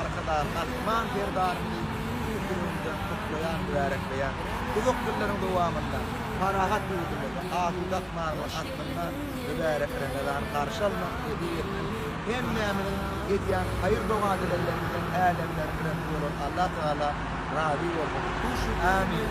Arkadag Gahryman Serdarymyzy tüýs ýüregimden gutlaýan, mübärekleýän. Uzak ýyllaryň dowamynda parahat ýurdumyzda asuda ykmalymyz astynda mübärek Remezany garşy almak nesip etsin. Hemmämiziň edýän haýyr-doga-dileglerimizden Älemleriň Rebbi bolan Allatagala razy bolsun. Amin.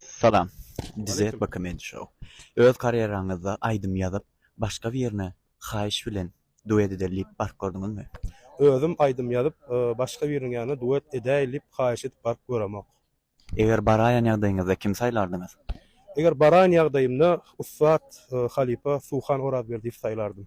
Salam. Dizet we komedi show. Öz karýeraňyzda aýdym ýazyp başga birine haýyş bilen duet edeli diýip baryp gördüňizmi? Özüm aýdym ýazyp başga biriniň ýanyna duet edäýeli diýip haýyş edip baryp göremok. Eger baraýan ýagdaýyňyzda kimi saýlardyňyz? Eger baraýan ýagdaýymda ussat halypa Suhan Orazberdiýewi saýlardym.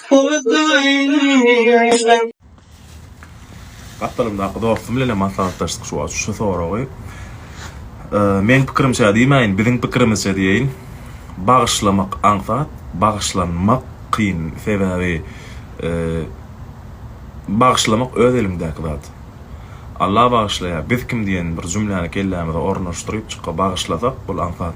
Gapdalymdaky dostum bilenem maslahatlaşdyk şu wagt şu soragy. Meň pikirimçä diýmäýin, biziň pikirimizçe diýeýin. Bagyşlamak aňsat, bagyşlanmak kyn. Sebäbi bagyşlamak öz eliňdäki zat. Alla bagyşlaýar, biz kim diýen bir jümläni kellämize ornaşdyryp, çykga bagyşlasak, ol aňsat.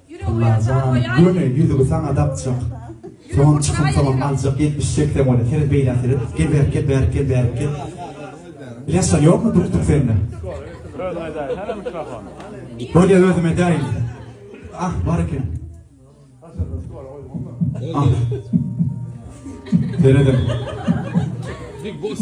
Alla jan göni ýüzügi saňa dakjak soňam çykyň soňam aljak ýetmiş seksen bolýa seret beýlä seret gel bärik gel bärik gel bärik gel ilaçlar ýokmy duktuk sende özüm edäýin hara mikrofon bolýa özüm edäýin ah bar eken ah seredem big boss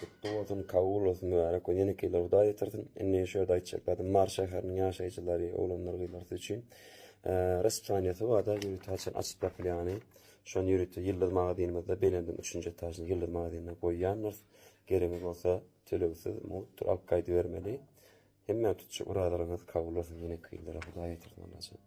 Gutly bolsun kabul bolsun mübarek gün ýeneki ýyla Hudaý ýetirsin. Indi şu ýerde aýtjak zadym Mary şäheriniň ýaşaýjylary oglanlar gyzlar siz üçin raspsaniýasy barda ýörite haçan açyp ýapylýany şony ýörite ýyldyz magazynymyzda belendiň üçünji etažynda ýyldyz magazynynda goýýandyrs geregiňiz bolsa tölegsiz mugt alyp gaýdybermeli hemmä tutjak yradalaryňyz kabul bolsun ýeneki ýyllara Hudaý ýetirsin Allajan.